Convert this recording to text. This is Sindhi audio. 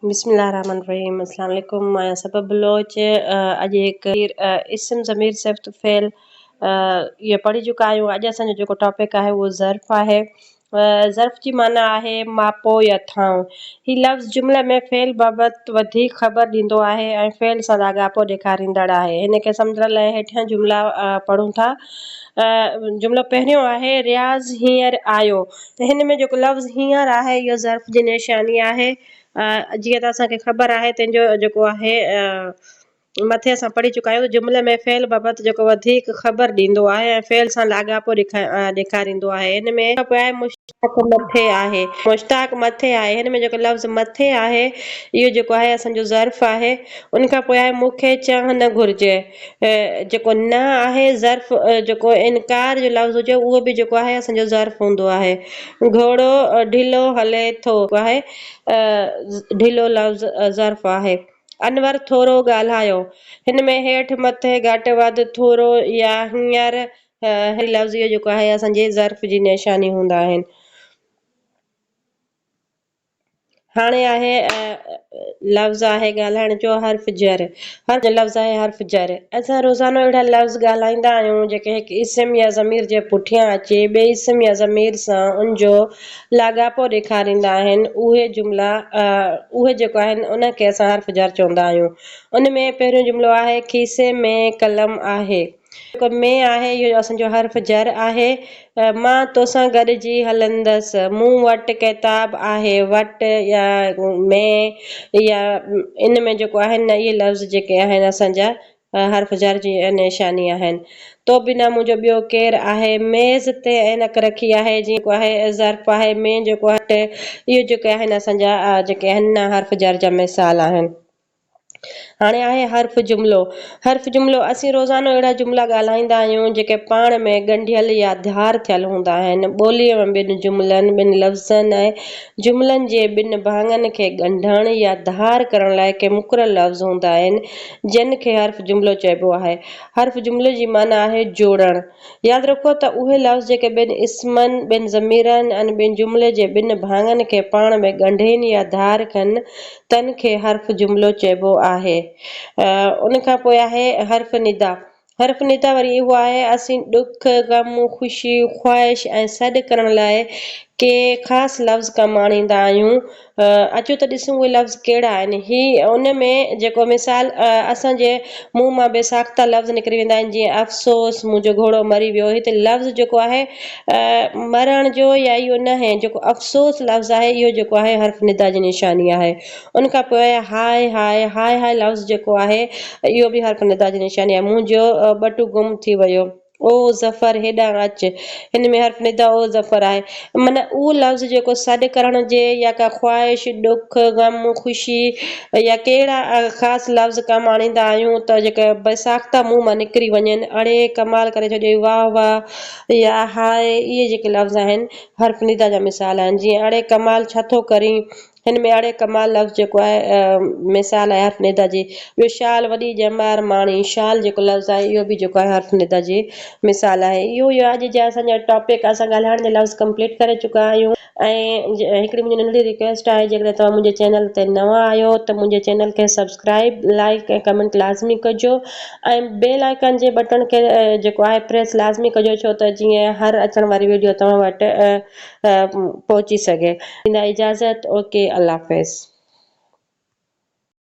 بسم الله الرحمٰن الرحيم اسلام عليڪم مان آهيان سبا بلوچ اڄ هڪ اسم ضمير صفت فعل اهي پڙهي چڪا آهيون اڄ اسان جو جيڪو ٽاپڪ آهي اهو ظرف آهي ظرف جي معنيٰ آهي ماپو يا ٿانو هي لفظ جملي ۾ فعل بابت وڌيڪ خبر ڏيندو آهي ۽ فعل سان لاڳاپو ڏيکاريندڙ آهي هن کي سمجهڻ لاء هيٺيان جملا پڙهون ٿا جملو پهريون آهي رياض هينئر آيو هن ۾ جيڪو لفظ هينئر آهي اهو ظرف جي نشاني آهي. جيئن ته اسان کي خبر آهي تنهن جو جيڪو آهي مٿي اسان پڙهي چڪا آهيون ته جملي ۾ فعل بابت جيڪو وڌيڪ خبر ڏيندو آهي ۽ فعل سان لاڳاپو ڏيکاريندو آهي. هن ۾ جيڪو پوء آهي مشتاق مٿي آهي. مشتاق مٿي آهي هن ۾ جيڪو لفظ مٿي آهي اهو جيڪو آهي اسان جو ظرف آهي. ان کان پوء آهي مون کي چانهه نه گهرجي. جيڪو نه آهي ظرف جيڪو انڪار جو لفظ هجي اهو به جيڪو آهي اسان جو ظرف هوندو آهي. گهوڙو ڍلو هلي ٿو آهي ڍلو لفظ ظرف آهي. انور ٿورو ڳالهايو. هن ۾ هيٺ مٿي گهٽ وڌ ٿورو يا هينئر هي لفظ اهو جيڪو آهي اسان جي ظرف جي نشاني هوندا آهن. هاڻي آهي لفظ آهي ڳالهائڻ جو حرف جر هر لفظ آهي حرف جر اسان روزانو اهڙا لفظ ڳالهائيندا آهيون جيڪي هڪ اسم يا ضمير جي پٺيان اچي ٻئي اسم يا ضمير سان ان جو لاڳاپو ڏيکاريندا آهن اهي جملا اهي جيڪو آهن ان کي اسان حرف جر چوندا آهيون ان ۾ پهريون جملو آهي کيسي ۾ قلم آهي ڪم ۾ آهي، اهو اسان جو حرف جر آهي، مان توسان گڏجي هلندس، مون وٽ ڪتاب آهي، وٽ يا ۾ يا ان ۾ جيڪو آهن نه اهي لفظ جيڪي آهن اسان جا حرف جر جي نشاني آهن، تو بنا منهنجو ٻيو ڪير آهي، ميز تي عينڪ رکي آهي، جيڪو آهي ظرف آهي، ۾ جيڪو آهي وٽ اهي جيڪي آهن اسان جا جيڪي آهن نه حرف جر جا مثال آهن. هاڻي آهي حرف جملو. حرف جملو، اسين روزانو اهڙا جملا ڳالهائيندا آهيون، جيڪي پاڻ ۾ ڳنڍيل يا ڌار ٿيل هوندا آهن. ٻوليء ۾ ٻن جملن، ٻن لفظن ۽ جملن جي ٻن ڀاڱن کي ڳنڍڻ يا ڌار ڪرڻ لاء ڪي مقرر لفظ هوندا آهن، جن کي حرف جملو چئبو آهي. حرف جملي جي معنيٰ آهي جوڙڻ. ياد رکو ته اهي لفظ جيڪي ٻن اسمن، ٻن ضميرن ۽ ٻن جملي جي ٻن ڀاڱن کي پاڻ ۾ ڳنڍين يا ڌار ڪن، تن کي حرف جملو چئبو آهي. ان کان پوء آهي حرف ندا. حرف ندا وري اهو آهي اسين ڏک، غم، خوشي، خواهش ۽ سڏ ڪرڻ لاء ڪي خاص لفظ ڪم آڻيندا آهيون. اچو ته ڏسون اهي لفظ ڪهڙا آهن. هي ان ۾ جيڪو مثال اسان جي منهن مان بي ساخته لفظ نڪري ويندا آهن جيئن افسوس منهنجو گهوڙو مري ويو هتي لفظ جيڪو آهي. مرڻ جو يا اهو نه هين جيڪو افسوس لفظ آهي اهو جيڪو آهي حرف ندا جي نشاني آهي ان کان پوء هاء هاء هاء هاء لفظ جيڪو آهي اهو به حرف ندا جي نشاني آهي منهنجو ٻٽو گم ٿي ويو او ظفر هيڏانهن اچ هن ۾ حرف ندا او ظفر آهي معنيٰ اهو لفظ جيڪو سڏ ڪرڻ جي يا ڪا خواهش ڏک غم خوشي يا ڪي اهڙا خاص لفظ ڪم آڻيندا آهيون ته جيڪي بي ساخته منهن مان نڪري وڃن اڙي ڪمال ڪري ڇڏيو واهه واهه يا هاء اهي جيڪي لفظ آهن حرف ندا جا مثال آهن جيئن اڙي ڪمال ڇا ٿو ڪرين هن ۾ اڙي ڪمال لفظ جيڪو آهي مثال آهي حرف ندا جي ٻيو شال وڏي ڄمار ماڻي شال جيڪو لفظ آهي اهو به جيڪو آهي حرف ندا جي مثال آهي اهو اڄ جا اسان جا ٽاپڪ اسان ڳالهائڻ جا لفظ ڪمپليٽ ڪري چڪا آهيون. ۽ هڪڙي منهنجي ننڍڙي رڪويسٽ آهي جيڪڏهن توهان منهنجي چينل تي نوان آهيو ته منهنجي چينل کي سبسڪرائيب لائڪ ۽ ڪمينٽ لازمي ڪجو ۽ بيل آئڪان جي بٽڻ کي جيڪو آهي پريس لازمي ڪجو ڇو ته جيئن هر اچڻ واري ويڊيو توهان وٽ پهچي سگهي ڏيندا اجازت اوڪي الله حافظ.